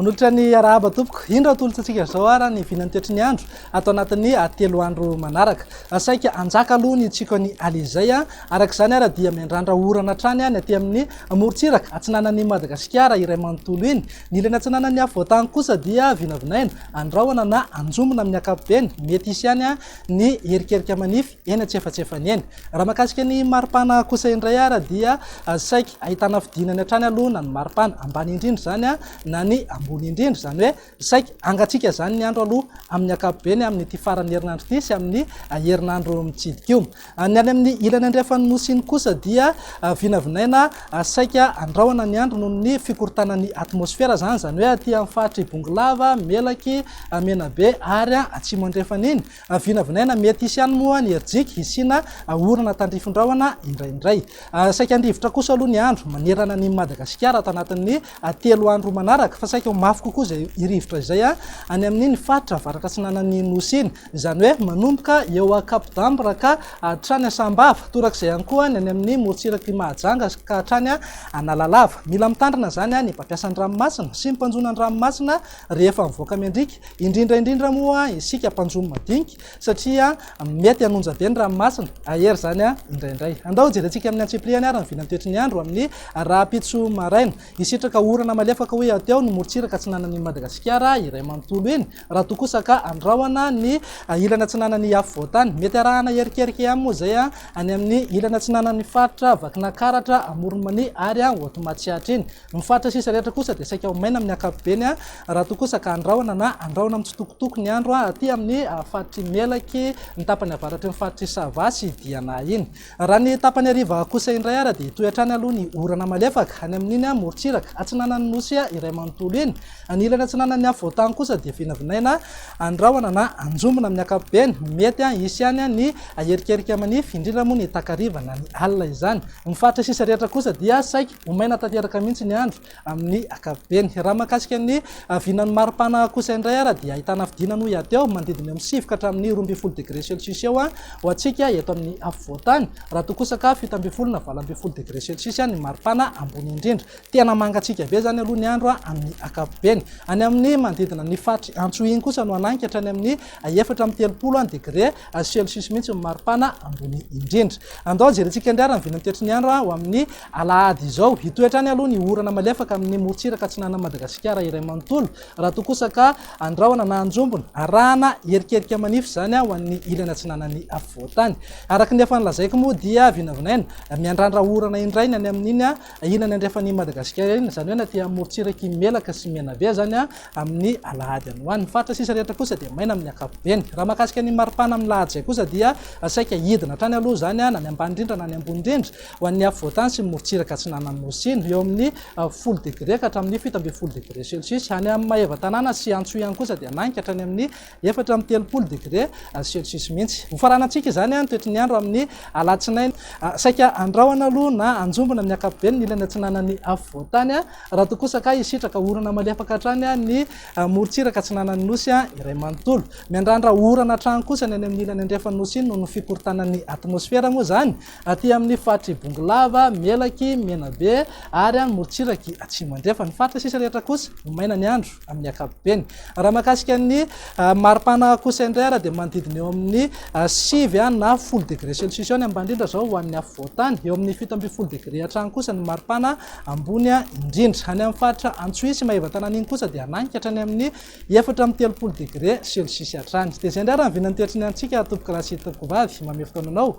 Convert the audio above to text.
Manolotra ny arahaba tompoko. Indra tolotsatsika izao ara ny vinan'ny toetry ny andro ato anatin'ny ah, telo andro manaraka. Ah, saika anjaka aloha ny tsiko an'i Alizay. Ah. Araka izany ara dia miandrandra orana hatrany any aty amin'ny morontsiraka atsinanan'i Madagasikara iray manontolo iny. Ny ilany atsinanan'ny afovoan-tany kosa dia vinavinaina, andrahona na anjomona amin'ny ankapobeny. Mety hisy ihany ny erikerika manify eny an-tsefatsefany eny. Raha mahakasika ny maripana kosa indray ary dia saiky ahitana fidinany hatrany aloha na ny maripana ambany indrindra izany na ny ambony indrindra. Izany hoe saiky hangatsiaka izany ny andro aloha amin'ny ankapobeny amin'ity faran'ny herinandro ity sy amin'ny herinandro mitsidika io. Ny any amin'ny ilany andrefan'ny Nosy iny kosa dia vinavinaina saika andrahona ny andro noho ny fikorontanan'ny atmosfera izany, izany hoe aty amin'ny faritr'i Bongolava, Melaky, Menabe ary Atsimo Andrefana iny. Vinavinaina mety hisy ihany moa ny herijika hisiana orana tandrifin-drahona indraindray. Saika handifotra kosa aloha ny andro manerana an'i Madagasikara ato anatin'ny telo andro manaraka fa saika ho mafy kokoa izay rivotra izay any amin'iny faritra avaratra atsinanan'ny Nosy iny. izany hoe manomboka eo Cap d'Ambre ka hatrany Sambava, torak'izay ihany koa ny any amin'ny morontsirak'i Mahajanga ka hatrany Analalava. Mila mitandrina izany ny mpampiasa ny ranomasina sy ny mpanjono an-dranomasina rehefa mivoaka miandriaka, indrindra indrindra moa isika mpanjono madinika satria mety hanonja be ny ranomasina, ahery izany indraindray. Andao jerentsika amin'ny antsipiriany ary ny vilan'ny toetry ny andro amin'ny rahampitso maraina. Hisitraka orana malefaka hoy aho teo ny morontsiraka atsinanan'i Madagasikara iray manontolo iny. Raha toa kosa ka andrahona ny ilany atsinanan'ny afovoan-tany, mety arahana erikerika ihany moa izay any amin'ny ilany atsinanan'ny faritra Vakinankaratra, Amoron'i Mania ary Haute Matsiatra iny. Ny faritra sisa rehetra kosa dia saika ho maina amin'ny ankapobeny raha toa kosa ka andrahona na andrahona mitsitokotoko ny andro aty amin'ny faritr'i Melaky, ny tapany avaratry ny faritr'i Sava sy Diana iny. Raha ny tapany hariva kosa indray ary dia hitohy hatrany aloha ny orana malefaka any amin'iny morontsiraka atsinanan'ny Nosy iray manontolo iny. Ny ilany atsinanan'ny afovoan-tany kosa dia vinavinaina andrahona na anjombona amin'ny ankapobeny. Mety hisy ihany ny haherikerika manify, indrindra moa ny takariva na ny alina izany. Amin'ny faritra sisa rehetra kosa dia saiky ho maina tanteraka mihitsy ny andro. Amin'ny ankapobeny. Raha mahakasika ny vinan'ny mari-pana kosa indray ary dia ahitana fidinana ho hiaty eo manodidina eo amin'ny sivy ka hatramin'ny roa ambin'ny folo degre celsius eo ho antsika eto amin'ny afovoan-tany, raha toa kosa ka fito ambin'ny folo na valo ambin'ny folo degre celsius ny mari-pana ambony indrindra. Tena mangatsiaka be izany aloha ny andro amin'ny ankapobeny. Any amin'ny manodidina ny faritry Antso iny kosa no hanangy ka hatrany amin'ny efatra amby telopolo degre celsius mihitsy ny mari-pana ambony indrindra. Andao jerentsika indray ary ny vinan'ny toetry ny andro ho amin'ny Alahady izao. Hitohy hatrany aloha ny orana malefaka amin'ny morontsiraka atsinanan'i Madagasikara iray manontolo, raha toa kosa ka andrahona na anjombona, arahana erikerika manify izany ho an'ny ilany atsinanan'ny afovoan-tany. Araka ny efa nolazaiko moa dia vinavinaina miandrandra orana indray ny any amin'iny ilany andrefan'i Madagasikara iny, izany hoe na aty amin'ny morontsirak'i Melaka sy Menabe azany amin'ny alahady any ho any. Ny faritra sisa rehetra kosa dia maina amin'ny ankapobeny. Raha mahakasika ny maripana amin'ny lahady izay kosa dia saika hidina hatrany aloha izany na ny ambany indrindra na ny ambony indrindra. Ho an'ny afovoantany sy ny morontsiraka atsinanan'ny Nosy Sina, eo amin'ny folo degre ka hatramin'ny fito ambin'ny folo degre celsius. Any amin'ny maevatanàna sy antso ihany kosa dia nanika hatrany amin'ny efatra amby telopolo degre celsius mihitsy. Ho faranantsika izany ny toetry ny andro amin'ny alatsinainy. Saika andrahona aloha na anjombona amin'ny ankapobeny ny ilany atsinanan'ny afovoantany, raha toa kosa ka hisitraka orana malefaka hatrany ny morontsiraka atsinanan'ny Nosy iray manontolo. Miandrandra orana hatrany kosa ny any amin'ny ilany andrefan'ny Nosy Sina noho ny fikorontanan'ny atmosfera moa izany, Aty amin'ny faritr'i Bongolava, Melaky, Menabe ary any morontsiraky atsimo andrefana. Ny faritra sisa rehetra kosa no maina ny andro amin'ny ankapobeny. Raha mahakasika ny maripana kosa indray ary dia manodidina eo amin'ny sivy na folo degré celsius eo ny ambany indrindra izao ho an'ny afovoantany. Eo amin'ny fito ambin'ny folo degré hatrany kosa ny maripana ambony indrindra. Any amin'ny faritra Antsohihy sy Maevatanàna iny kosa dia hananika hatrany amin'ny efatra amby telopolo degré celsius hatrany. Dia izay indray raha ny vinan'ny toetry ny antsika tompokolahy sy tompokovavy. Mamehy fotoana anao